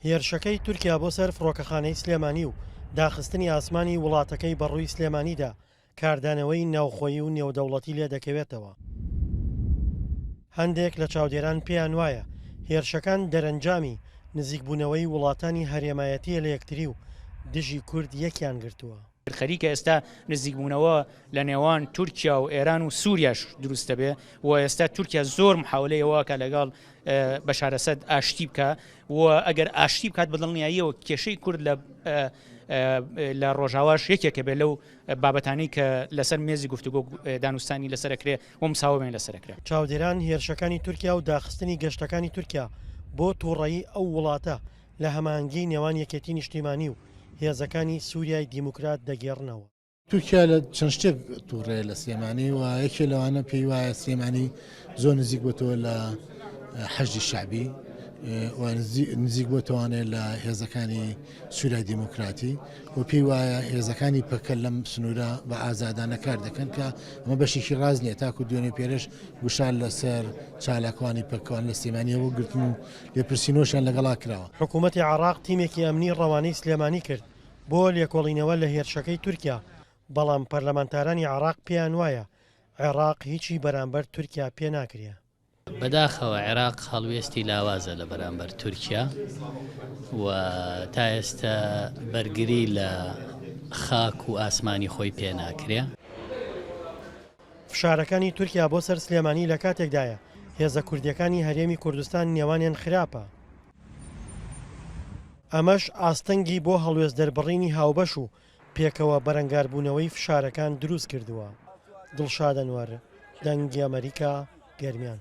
هێرشەکەی تورکیا بۆ سەر فڕۆکەخانەی سلێمانی و داخستنی ئاسمانی وڵاتەکەی بە ڕووی سلێمانیدا کاردانەوەی ناوخۆیی و نێودەوڵەتی لێ دەکەوێتەوە. هەندێک لە چاودێران پێیان وایە هێرشەکان دەرەنجامی نزیکبوونەوەی وڵاتانی هەرێمایەتییە لە یەکتری و دژی کورد یەکیان گرتووە. خەریکە ئێستا نزیکبوونەوە لە نێوان تورکیا و ئێران و سووریاش دروست دەبێ و ئێستا تورکیا زۆر محاولەی ئەوواکە لەگەڵ بەشارەسەد ئاشتی بکە و ئەگەر ئاشتی بکات بەدڵنیاییەوە کێشەی کورد لە لە ڕۆژاواش یەکێکە بێ لەو بابەتانی کە لەسەر مێزی گفتوگۆ دانوستانی لەسەرکرێ و مساوەێن لەسەرکرێ چاودێران هێرشەکانی تورکیا و داخستنی گەشتەکانی تورکیا بۆ تووڕەیی ئەو وڵاتە لە هەماهەنگیی نێوان یەکێتیی نیشتیمانی و هێزەکانی سووریای دیموکرات دەگێڕنەوە. تورکیا لە چەند شتێک تووڕەیە لە سلێمانی و یەکێ لەوانە پێی وایە سلێمانی زۆر نزیک بۆتەوە لە حەشدی شەعبی و نزیک بۆتەوانێت لە هێزەکانی سوورای دیموکراتی و پێی وایە هێزەکانی پەکە لەم سنوورە بە ئازادانە کار دەکەن کە ئەمە بەشێکی ڕاز نییە تاکو دوێنێ پێرش گوشار لەسەر چالاکوانی پەکوان لە سلێمانیەوە گرتن و لێپرسینۆشیان لەگەڵا کراوە. حکوومەتی عێراق تیمێکی ئەمنی ڕەوانەی سلێمانی کرد بۆ لێکۆڵینەوە لە هێرشەکەی تورکیا، بەڵام پەرلەمانتارانی عێراق پێیان وایە عێراق هیچی بەرامبەر تورکیا پێ ناکرێ. بەداخەوە عێراق هەڵوێستی لاوازە لە بەرامبەر تورکیا و تا ئێستە بەرگری لە خاک و ئاسمانی خۆی پێ ناکرێ. فشارەکانی تورکیا بۆ سەر سلێمانی لە کاتێکدایە، هێزە کوردییەکانی هەرێمی کوردستان نێوانیان خراپە، ئەمەش ئاستەنگی بۆ هەڵوێست دەربڕینی هاوبەش و پێکەوە بەرەنگاربوونەوەی فشارەکان دروستکردووە. دڵشاد ئەنوەر، دەنگی ئەمەریکا، گەرمیان.